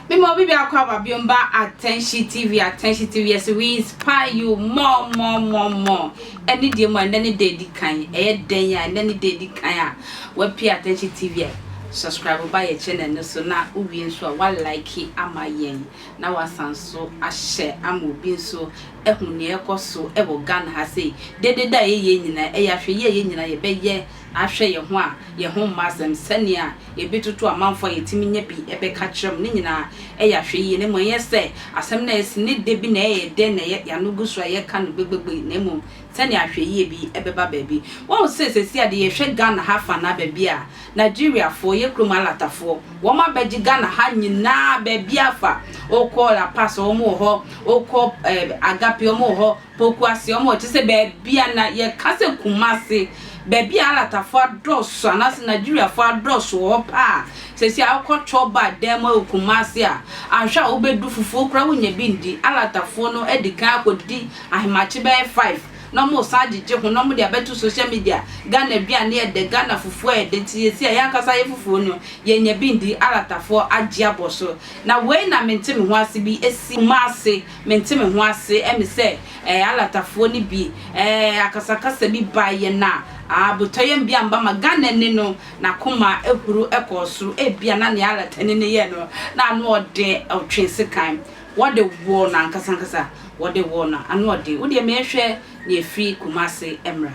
Mimo bibi akwa babiomba attention TV attention TV yes we inspire you more more more more ɛne deɛ mu a ɛnɛ ne deɛ di kan ɛyɛ dɛn a ɛnɛ ne deɛ di kan a wapi attention TV a subscribe ba yɛ channel no so na wowie nso a wa like ama yɛn na wɔasan nso ahyɛ ama obi nso ahu nea ɛrekɔ so wɔ Ghana ha sei. Deɛ ɛdeda a ɛyɛ yei nyinaa, ɛyɛ ahwɛyie a yɛn nyinaa yɛbɛyɛ ahwɛ yɛn ho a yɛn ho mmɔ asɛm, sɛnea yɛbɛtutu amanfoɔ a yɛtumi nya bi bɛka akyerɛ mo, ne nyinaa ɛyɛ ahwɛyie, na mmom ɛnyɛ sɛ asɛm no a asi no da bi na ɛyɛ dɛ na yɛn ano gu so a yɛreka no gbegbegbe, na mmom sɛnea ahwɛyie bi bɛba baabi. Woahu sɛ seesei a deɛ yɛhwɛ Ghana ha afa anaa baabi a, Nigeriafoɔ yɛ kurom alatafoɔ wɔn abɛgye Ghana ha nyinaa baabiara fa wokɔ La Paz wɔn wɔ hɔ wokɔ eh, Agape wɔn wɔ hɔ Pokuase wɔn wɔ kyɛ sɛ baabiara na yɛka sɛ Kumase baabi a alatafoɔ adɔɔso anaasɛ Nigeriafoɔ adɔɔso wɔ hɔ paa sɛsi a wokɔ Choba dan mu wɔ Kumase a anhwɛ a wobɛdu fufuo koraa wonya bi ndi alatafoɔ no adi kan akɔdidi ahemakye bɛyɛ 5 na ɔmo san gyegye ho na ɔmo de abɛto social media, Ghana aduane yɛ dɛ, Ghana fufuo ayɛ dɛ nti seesei a yɛn ankasa yɛ fufuo no yɛn nya bi ndi, Aratafoɔ agye abɔ so. Na wei na me nte me ho ase bi si Kumase, me nte me ho ase ɛme sɛ ɛɛ Aratafoɔ no bi ɛɛ akasakasa bi bae yɛn a aa botɔyam bi amba ma Ghanani no n'akoma ahuru ɛkɔɔ soro, ebia na nea Aratani no yɛ no na ano ɔdɛ, ɔtwe sekan Wɔde woo no ankasa ankasa. Wɔde woo no anoɔden. Wo deɛ mehwɛ na ɛfiri Kumasi mmra.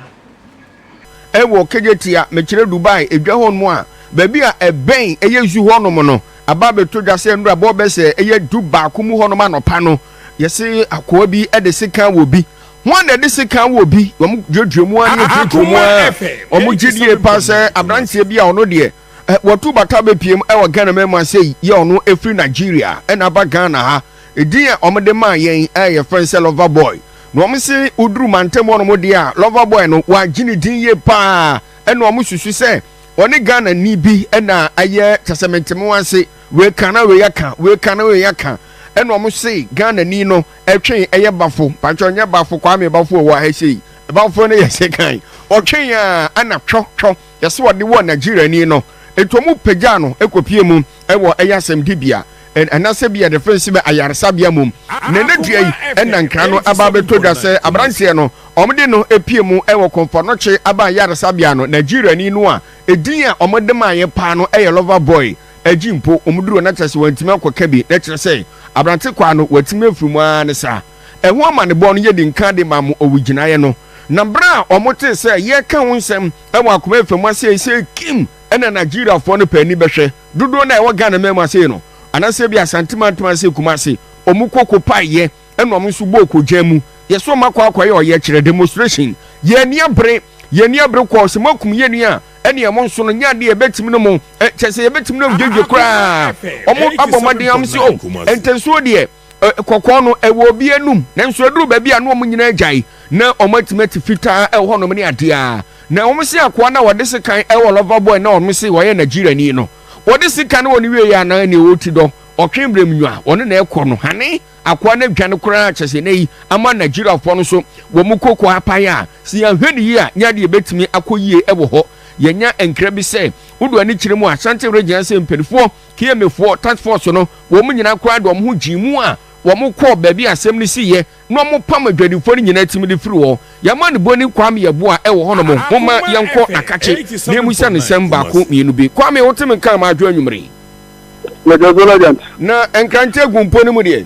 Ɛwɔ Kejetia, mekyerɛ Dubai edwa hɔ nom a, baabi a ɛbɛn ɛyɛ zoo hɔ nom no, aba abɛtɔ dwa sɛ nnora bɔ bɛ sɛ ɛyɛ du baako mu hɔ nom anɔpa no, yɛse akoa bi de sekan wɔ bi. Hwan na ɛde sekan wɔ bi? Wɔn duadua mu ara ne ɛpirepire mu ara. Wɔn gyedie paa sɛ abranteɛ bi a ɔno deɛ Watu bata bɛpiem wɔ Ghana man mu ase yi yɛ ɔno ɛfiri Nigeria ɛna aba Ghana ha. Ɛdin a wɔde maa yɛn yɛfrɛ sɛ Lover Boy. Na wɔn se woduru mantam hɔ nom deɛ a Lover Boy no wɔagye ne din yie paa ɛna wɔn susu sɛ ɔne Ghana ni bi ɛna ayɛ kyɛsɛ menteme wɔn ase wei ka na wei aka wei ka na wei aka ɛna wɔn se Ghana ni no ɛtwe ɛyɛ bafo patwɛ ɔnyɛ bafo Kwame bafo ɛwɔ ha ɛsei bafo no yɛ se kan ɔtwe yɛn a ɛna twɔ twɔ Yɛse wɔde wɔɔ Nigeriani no nti wɔn pagyaa no kɔ pie mu wɔ ɛyɛ asɛmdibea ɛnasɛ bia yɛde fɛn si bɛ ayaresabea mom na ɛnɛ dua yi ɛna nkra no aba abɛtɔ dwa sɛ abranteɛ no wɔn de no pie mu wɔ Komfɔnokye aban ayaresabea no Nigeriani no a ɛdin a wɔn de maayɛ paa no ɛyɛ lover boy agyi mpo wɔn duro no akyɛsɛ wɔn ntumi akɔ ka bi na ɛkyerɛ sɛ abrante kwaa no wɔatumi afiri mu aa ne saa. ɛho amanebɔ no, yɛdi nkan de ma mo owigyinaeɛ no, na berɛ a wɔtee sɛ yɛreka ho nsɛm wɔ Akoma Afam ase seisei, Kim, ɛna Nigeriafoɔ no pɛ ani bɛhwɛ dodoɔ no a ɛwɔ Ghanaman mu ase no, anaasɛ ebia Asante Mantam ase Kumasi, wɔn kɔ kɔpaeɛ na wɔn nso bɔɔ kɔgyaa mu, yɛse wɔn akɔ akɔyɛ ɔyɛkyerɛ, demonstration, yɛn ani abere, yɛn ani abere kɔɔ sɛ moakum yɛn nua, ɛne wɔn nso no nyɛ adeɛ a yɛbɛtumi ne mo, kyerɛ sɛ yɛbɛtumi ne mo dwedwe koraa, wɔn abɔ mmɔden, wɔn se oh, ntɛnsoɔ deɛ. kɔkɔɔ no, ɛwɔ obi anum, nanso ɛduru baabi a na wɔn nyinaa agyae, na wɔatumi ate fitaa wɔ hɔnom ne adeɛ a na wɔn se akoa no a ɔde sekan wɔ lover boy na wɔn se ɔyɛ Nigeriani no, ɔde sekan no wɔ ne wieɛ anaa nea ɔwɔ ti dɔ, ɔtwe berɛm nwa, ɔne na ɛkɔ no, hane, akoa no adwane koraa kyɛ sɛ nnɛyi ama Nigeriafoɔ no nso wɔn koko apae a, sɛ yɛanhwɛ no yie a nyɛ adeɛ ɛbɛtumi akɔ yie wɔ hɔ. Yɛnya nkra bi sɛ, wodu anikyerɛ mu a Asante region ase mpanifoɔ, Kiyemefoɔ, task force no, wɔn nyinaa koraa de wɔn ho gyee mu a wɔkɔɔ baabi a asɛm no siiɛ na wɔpam adwadifoɔ no nyinaa tim de firii hɔ. Yɛn manibɔni Kwame Yeboah wɔ hɔnom, momma yɛnkɔ Nakakye na yɛmmisa no nsɛm baako mmienu bi. Kwame, wote me nka anaa adwo anwummere yi? Yɛda so, Lajant. Na Nkrantɛ agu mpo no mu deɛ?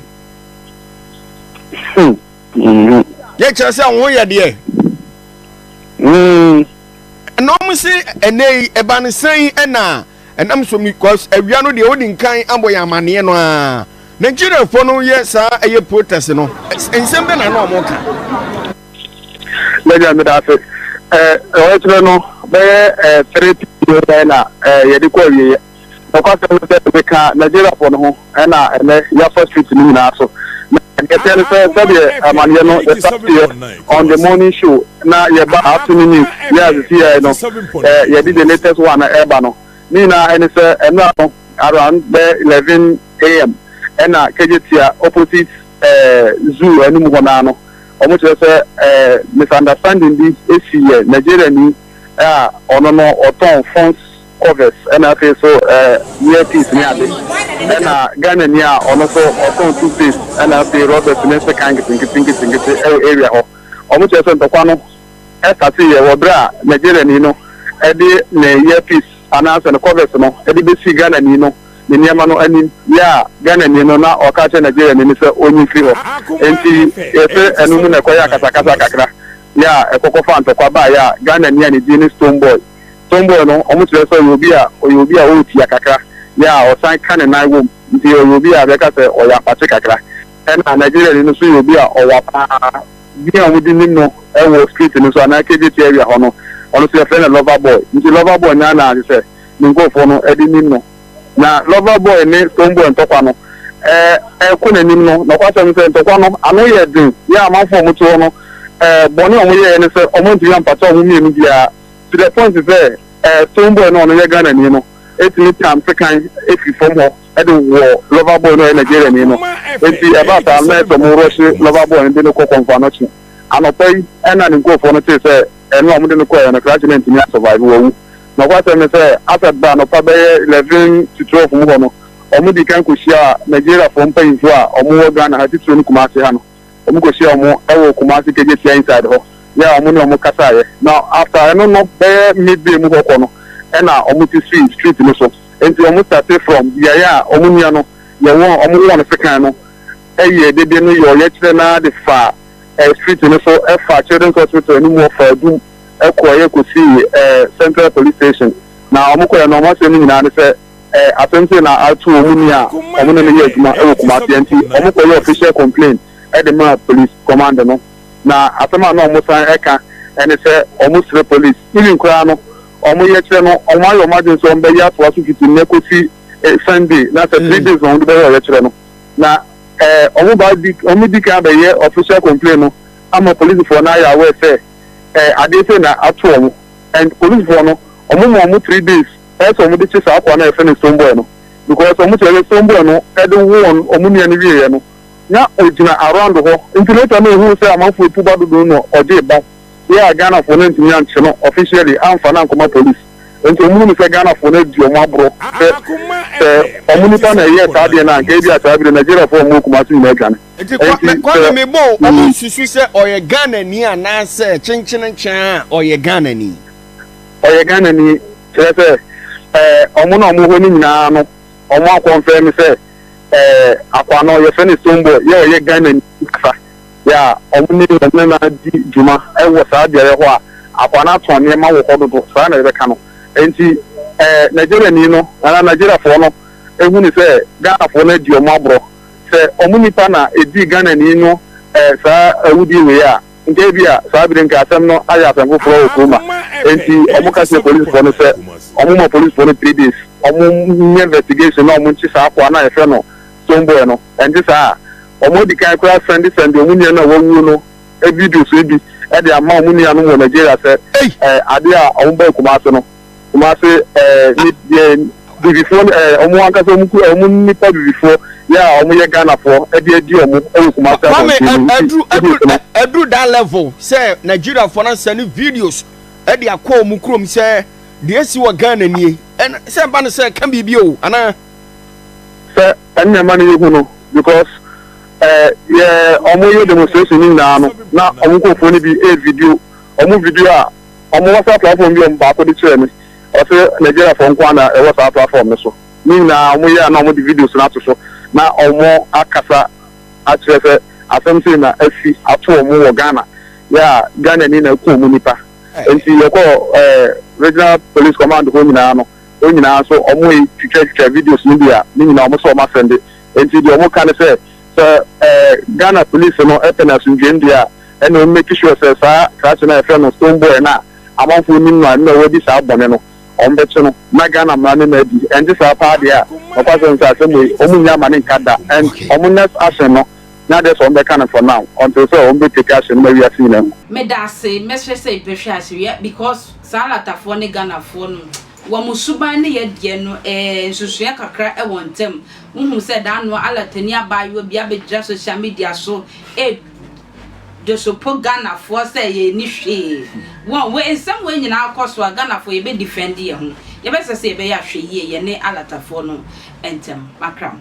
Hmm. Hmm. Yɛ kyerɛ sɛ wo ho yɛ deɛ? Hmm. Na wɔn se ɛnɛ yi ɛba no sɛn ɛna Ɛnam so because awia no deɛ odi nkan abɔ yɛn amaneɛ no aa. Nigeria foɔ no yɛ saa ɛyɛ protest no nsɛm bɛ na na ɔmo ka. Mɛgya meda ase ɛɛ ɔkyerɛ no bɛyɛ ɛɛ three pm na ɛɛ yɛde kɔ awieɛ nɔkwasɛm no sɛ meka Nigeria foɔ no ho. ɛna ɛnɛ yɛafa street no nyinaa so. Na nea ɛteɛ ne sɛ sɛdeɛ amaneɛ no yɛstarteɛ on the morning show na yɛba afternoon news yɛ a sisi yɛn no eh, yɛde the latest one no ɛreba no ne nyinaa ɛne sɛ ɛnora no around bɛyɛ 11 am ɛna Kegyetia opposite eh, zoo anim hɔ naa no wɔn kyerɛ sɛ eh, misunderstanding bi esi yɛ Nigeriani a ɔno no ɔtɔn phones covers ɛna afei so ɛɛ ear piece ne ade ɛna Ghana ni a ɔno nso ɔtɔn tooth paste ɛna afei rubbish ne sekan nketenkete nketenkete ɛwɔ area hɔ wɔn kyerɛ sɛ ntɔkwa no ɛsate yɛ wɔ bere a Nigeria ni no ɛde ne ear piece anaasɛ ne covers no ɛde besi Ghana ni no ne nneɛma no anim yɛ a Ghana ni no na ɔka kyerɛ Nigeria ni no sɛ onyi mfiri hɔ enti yɛsɛ ɛno mu na ɛkɔyɛ akasakasa kakra yɛ a ɛkɔkɔfa ntɔkwa baa yɛ a Ghana ni a ne din ne Stone Boy. Tomboy no, wɔkyerɛ sɛ ɔyɛ obi a ɔyɛ obi a ɔyɛ tia kakra, yɛ a ɔsan ka ne nan wom, nti ɔyɛ obi a bɛka sɛ ɔyɛ apakye kakra. Ɛna Nigeriani no nso yɛ obi a ɔwa paa. Din a wɔde nim no wɔ street no so anaa KJT area hɔ no, ɔno nso yɛfrɛ no Lover Boy. Nti Lover Boy na na kyerɛ sɛ ne nkurɔfoɔ no de nim no. Na Lover Boy ne Stonebwoy ntɔkwa no rekɔ n'anim no, nɔkwasɛm ne sɛ ntɔkwa no ano yɛɛ den, yɛ a amanfoɔ a wɔte hɔ no, bɔne a wɔyɛeɛ ne sɛ wɔantumi ampata wɔn mmienu biara. to the point sɛ ɛɛ stone boy no a ɔno yɛ Ghana ni no tumi tam sekan firi fam hɔ de wɔ lover boy no a ɔyɛ Nigeria ni no nti ɛbaa saa no na ayɛ sɛ ɔmo rɔhye lover boy no de no kɔ kɔnfoanɔkye anɔpa yi ɛna ne nkurofoɔ no tee sɛ ɛno a ɔmo de no kɔɛ no krakye no antumi a survive wawu nɔkwasɛm ne sɛ asɛ ba anɔpa bɛyɛ eleven to twelve mu hɔ no ɔmo dii kan kɔhyiaa Nigeriafoɔ mpanyinfoɔ a ɔmo wɔ Ghana ha titire no Kumasi ha no. wɔn kɔ hyia wɔn ɛwɔ Kumasi Kegye Sia inside hɔ yɛ a wɔn ne wɔn kasa yɛ na after ɛno no bɛyɛ midday mu hɔ kɔ no ɛna wɔn ti sii street no so ɛnti wɔn starte from biaeɛ a wɔn nua no yɛ wɔn wɔn wɔ no sekan no ɛyɛ dede no yɛ ɔyɛ kyerɛ no ara de faa ɛɛ street no so ɛfaa children's hospital anim hɔ faa dum ɛkɔ ɛyɛ kɔ sii ɛɛ central police station na wɔn kɔ yɛ no wɔn asɛm no nyinaa ne sɛ. eh, asɛm sei na ato wɔn nua a wɔn ne no yɛ adwuma wɔ Kumasi a nti wɔkɔyɛ official complaint de maa police command no na asɛm a na wɔsan ka ne sɛ wɔsrɛ police even koraa no wɔyɛ kyerɛ no wɔayɛ wɔn adwene sɛ wɔbɛyɛ atoa so fiti nnɛ kɔsi eh, Sunday na sɛ three mm. days na wɔde bɛyɛ ɔyɛ kyerɛ no na eh, wɔn ba di wɔn di kan bɛyɛ official complaint no ama polisifoɔ no ayɛ aware sɛ eh, adeɛ sɛ na ato wɔn and polisifoɔ no wɔn mu wɔn three days. pɛ sɛ wɔde kye saa akoa no a yɛfrɛ no stone boy no because wɔn kyerɛ sɛ stone boy no de wo wɔn wɔn nua no wieɛ no na ɔgyina around hɔ nti later na ohuu sɛ amanfoɔ etu ba dodo no na ɔgyee ba yɛ a Ghanafoɔ no antumi ankye no officially amfa no ankɔma police nti wɔn hunu sɛ Ghanafoɔ no adi wɔn aborɔ sɛ sɛ wɔn nipa na ɛyɛɛ saa adeɛ no anka ebi a saa bi no Nigeriafoɔ a wɔn wɔ Kumasi nyinaa atwa no Nti kwa, nti me, kwame sɛ me bɔ o, wɔn mm. nsusu sɛ ɔyɛ Ghanani anaasɛ kyenkyenenkyɛn a ɔyɛ Ghanani. ɔyɛ Ghanani, kyerɛ sɛ ɛɛ wɔn na wɔn hɔ no nyinaa no, wɔn akɔnfɛn no sɛ ɛɛ akwa no yɛfrɛ no Stonebwoy, yɛ ɔyɛ Ghanani kasa, yɛ a wɔn ne wɔn ne na di dwuma wɔ saa beaeɛ hɔ a akwa no atɔn nneɛma wɔ hɔ dodo, saa na yɛbɛka no. Nti ɛɛ Nigeriani no anaa Nigeriafoɔ no ehu no sɛ Ghanafoɔ no adi wɔn aborɔ, sɛ wɔn nipa na edii Ghanani no ɛɛ saa awudie wei a, Nka ebia saa bere nkrasɛm no ayɛ asɛm foforɔ wɔ kurom a enti wɔka kyerɛ polisifo no sɛ wɔmma polisifo no three days wɔnyɛ investigation na wɔnkye saa akoa no a yɛfrɛ no stone boy no, ɛnte saa a wɔn adi kan koraa sɛnde sɛnde wɔn nua no a wawuo no videos no bi de ama wɔn nuanom wɔ Nigeria sɛ ade a wɔbaa Kumasi no. Kumase ɛɛ ne deɛ bibifoɔ ne ɛɛ wɔn ankasa wɔn ku wɔn nipa bibifoɔ yɛ a wɔyɛ Ghanafoɔ ɛde adi wɔn ɛwɔ Kumase abɔnten mu nti ɛdi nsɛm. Ɛduru that level sɛ Nigeriafoɔ na sɛ ne videos ɛde akɔ wɔn kurom sɛ deɛ esi wɔ Ghana nie ɛn sɛ ɛba ne sɛ ɛka biribi o anaa. Sɛ ɛnna ɛma ne yɛ hu no because ɛɛ yɛ wɔn yɛ demonstration ne nyinaa no na wɔn nkurɔfoɔ no bi ɛɛ video wɔn video a. Wɔwɔ saa platform bi a baako de kyerɛɛ me, ɔse Nigeriafoɔ nko ara na ɛwɔ saa platform no so. Ne nyinaa wɔyɛ a na wɔde videos no ato so na wɔakasa akyerɛ sɛ asɛm sei na asi ato wɔn wɔ Ghana, yɛ a Ghanani na aku wɔn nipa. Nti yɛkɔɔ Regional Police Command hɔ nyinaa no, hɔ nyinaa nso wɔretwitwatwitwa videos no bi a ne nyinaa wɔse wɔasɛnde. Nti deɛ wɔka ne sɛ, sɛ Ghana Police no pɛ no asomdwoem deɛ a, ɛna ɔn make sure sɛ saa krakye no a yɛfrɛ no stone boy no a amanfoɔ nnim no a ɛno na wadi saa bɔne no wɔn bɛkye no na Ghana mmara no na adi ɛnte saa paa deɛ a nokwasɛm sɛ asɛm wei wɔn nyɛ ama ne nka da and wɔn nyɛ action no nyɛ adeɛ sɛ wɔn bɛka no for now until sɛ wɔn bɛ take action no ma wiase nyinaa hu. Meda ase, mɛsrɛ sɛ bɛhwɛ asewia because saa Latafoɔ ne Ghanafoɔ no wɔn suban ne yɛ deɛ no ɛɛ nsusuiɛ kakra wɔ ntam. Wohu sɛ da ano Alatani abaayewa bi abɛgyina social media so ɛɛ. Josopo Ghanafoɔ sɛ yɛn nni hwee wɔn wei nsɛm wei nyinaa kɔ so a Ghanafoɔ yɛbɛ defend yɛn ho yɛbɛ sɛ sɛ yɛbɛyɛ ahwɛyie yɛne Alatafoɔ no ntɛm makra mo.